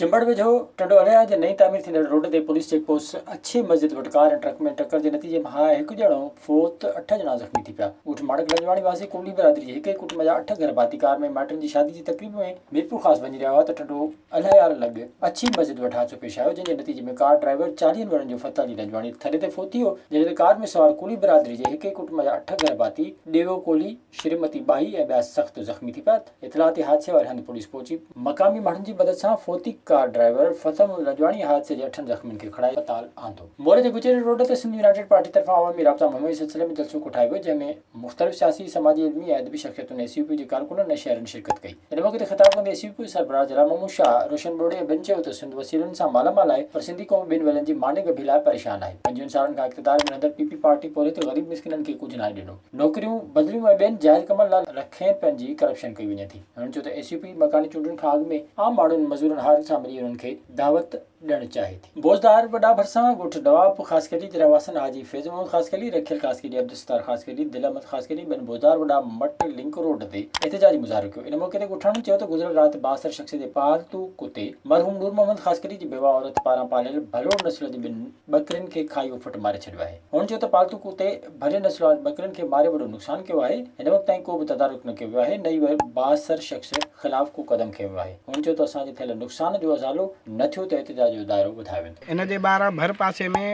چمبڙ ويجهو ٽنڊو الهيار جي نئين تعمير ٿيندڙ روڊ تي پوليس چيڪ پوسٽ اڇي مسجد وٽ ڪار ۽ ٽرڪ ۾ ٽڪر جي نتيجي مان هڪ ڄڻو فوت ته اٺ ڄڻا زخمي ٿي پيا. ڳوٺ ماڻڪ لنجواڻي واسي ڪوڏي برادري جي هڪ ئي ڪٽنب جا اٺ گهر ڀاتي ڪار ۾ مائٽن جي شادي جي تقريب ۾ ميرپورخاص وڃي رهيا هئا ته ٽنڊو الهيار لڳ اڇي مسجد وٽ حادثو پيش آيو جنهن جي نتيجي ۾ ڪار ڊرائيور چاليهن ورهن جو فتح علي لنجواڻي ٿڏي تي فوت ٿي ويو جڏهن ته ڪار ۾ سوار ڪوڏي برادري جي هڪ ئي ڪٽنب جا اٺ گهر ڀاتي ڏيئو ڪولهي، شريمتي ٻاهي ۽ ٻيا سخت زخمي ٿي پيا. اطلاعاتي حادثي واري هنڌ پوليس پهچي. مقامي ماڻهن جي مدد سان فوتي ڪار ڊرائيور فتح محمد رجواڻي حادثي جي اٺن زخمين کي کڻائي اسپتال آندو. موري جي گجري روڊ تي سنڌ يونائيٽيڊ پارٽي طرفان عوامي رابطا مهم جي سلسلي ۾ جلسو ڪوٺايو ويو جنهن ۾ مختلف سياسي، سماجي، علمي ۽ ادبي شخصيتن، اي سي يو پي جي ڪارڪنن ۽ شهرين شرڪت ڪئي. ان موقعي تي خطاب ڪندي اي سي يو پي سربراهه جلال محمود شاهه، روشن ٻوڙي ۽ ٻين چيو ته سنڌ وسيلن سان مالا مال آهي پر سنڌي قوم ٻن ويلن جي ماني ڳڀي لاء پريشان آهي. پنجوهن سالن کان اقتدار ۾ رهندڙ پي پي پارٽي پورهيت غريب مسڪينن کي ڪجهه ناهي ڏنو. نوڪريون، بدليون ۽ ٻين جائز ڪمن لاء لکين رپين جي ڪرپشن ڪئي وڃي ٿي. هن چيو ته اي سي پي مڪاني چونڊن کان اڳ ۾ عام ماڻهن، مزورن هارن سان ملي انهن کي دعوت ڏيڻ چاهي ٿي. بوزدار وڏا ڀرسان، ڳوٺ نواب خاصخيلي جي رهواسين حاجي فيض محمد خاصخيلي، رکيل خاصخيلي، عبدالستار خاصخيلي، دل احمد خاصخيلي ٻين بوزدار وڏا مٽ لنڪ روڊ تي احتجاجي مظاهرو ڪيو. ان موقعي تي ڳوٺاڻن چيو ته گذريل رات بااثر شخص جي پالتو ڪتي مرحوم نور محمد خاصخيلي جي بيوه عورت پاران پاليل ڀلوڙ نسل جي ٻن ٻڪرين کي کائي اهو ڦٽ ماري ڇڏيو آهي. هن چيو ته پالتو ڪتي ڀلي نسل وارن ٻڪرين کي ماري وڏو نقصان ڪيو آهي، هن وقت تائين ڪو به تدارڪ نه ڪيو ويو آهي نه ئي بااثر شخص خلاف ڪو قدم کنيو ويو آهي. هن چيو ته اسان جي ٿيل نقصان جو ازالو نه ٿيو ته احتجاج جو دائرو وڌايو ويندو. ان جي ٻاهران ڀر پاسي ۾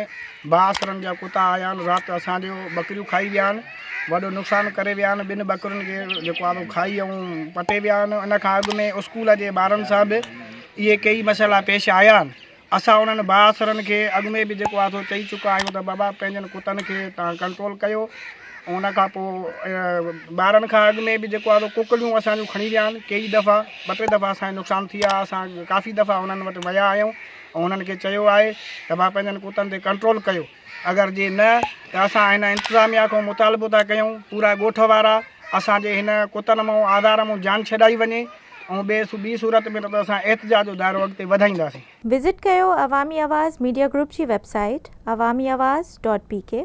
بااثرن جا ڪتا آيا آهن، رات اسان جون ٻڪريون کائي ويا آهن، وڏو نقصان ڪري ويا آهن، ٻن ٻڪرين کي جيڪو آهي کائي ۽ پٽي ويا آهن، ان کان اڳ ۾ اسڪول جي ٻارن سان به اهي ڪيئي مسئلا پيش آيا آهن. اسان انهن بااثرن کي اڳ ۾ به جيڪو آهي سو چئي چڪا آهيون ته بابا پنهنجن ڪتن کي تان ڪنٽرول ڪيو ۽ ان کان پوء ٻارن کان اڳ ۾ به جيڪو آهي سو ڪڪڙيون اسان جون کڻي ويا آهن ڪيئي دفعا ٻه ٽي دفعا اسان نقصان ٿي ويا اسان ڪافي دفعا انهن وٽ ويا آهيون ۽ انهن کي چيو آهي ته ڀا پنهنجن ڪتن تي ڪنٽرول ڪيو اگر جي نه ته اسان هن انتظاميا کان مطالبو ٿا ڪيون پورا ڳوٺ وارا اسان جي هن ڪتن مئون آڌار مئون جان ڇڏائي وڃي ۽ ٻي ٻي صورت ۾ نه ته اسان احتجاج جو دائرو اڳتي وڌائينداسين. وزٽ ڪيو عوامي آواز ميڊيا گروپ جي website Awami Awaz dot P ڪي.